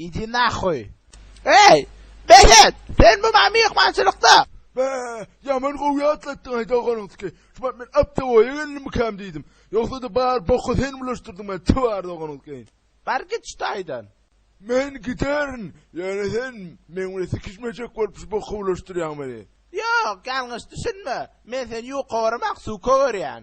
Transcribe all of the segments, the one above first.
Idi nahoý. Eý! Behet! Sen bu maňa myhmançylykda! Be, ýaman gowy ýatlatdyň aý doganyňky. Şu wagt men aptewoýa geldim-mikäm diýdim. Ýogsa-da bar boka sen bulaşdyrdyň meni, twar doganyňky. Bar git şu taýdan. Men giderin, ýöne sen meň bilen sikişmejek bolup şu boka bulaşdyrýaň meni. Ýok, ýalňyş düşünme. Men seni ýuka göremok, suka görýän.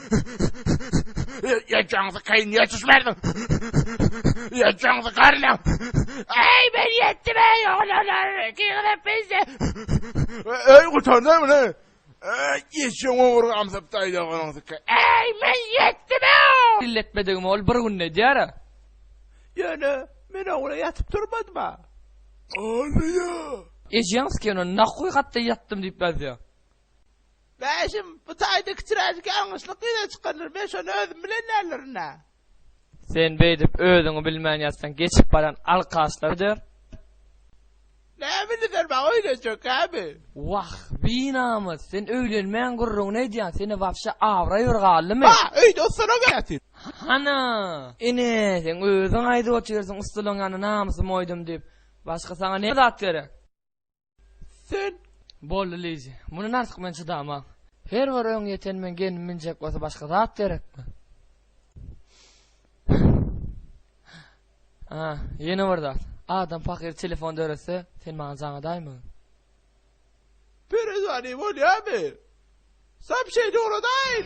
Ýetjäňizi keýin niýe düşmärsiň? Ýetjäňizi garlaň. Äý, men ýetdim, äý, oglanlar, ikiňizem pisse. Äý, gutardy muny. Äý, ýetjäň oňur gamsap taýda golaňsyka. Äý, men ýetdim, äý. Elletmedigimi ol bir günde edýär-ä. Ýöne, men ogla ýatyp turmadym-a. Alýa. Ejeňiz kinoda hakykat-da ýatdym diýip ýazýar. Bäşim, bu taýda kiçiräjik ýalňyşlyk ýüze çykardyr, men şony özüm bilen däldirin-ä. Sen beýdip özüňi bilmän ýatsaň geçip baran alkaşlar der. Näme diýdiler maňa öýlenjekkämi? Wah, binamys, sen öýlenmän gürrüňini edýäň, sende wapşe abraý bir galdymy? Ba, öýde ussalaň ýaňa sen. Hana, ine, sen özüň aýdyp otyrsyň ussalaň ýaňa namysym oýdum diýip, başga saňa näme zat gerek? Sen! Boldy, Lizi. Mundan artyk men çydaman. Her bir öň ýeten men gelnim münjek bolsa başga zat gerekmi? A, ýene bir zat. Adam pahyr telefon döretse, sen maňa jaňadaýmyň? Perezwani bolýamy? Sapşeýni ugradaýyn!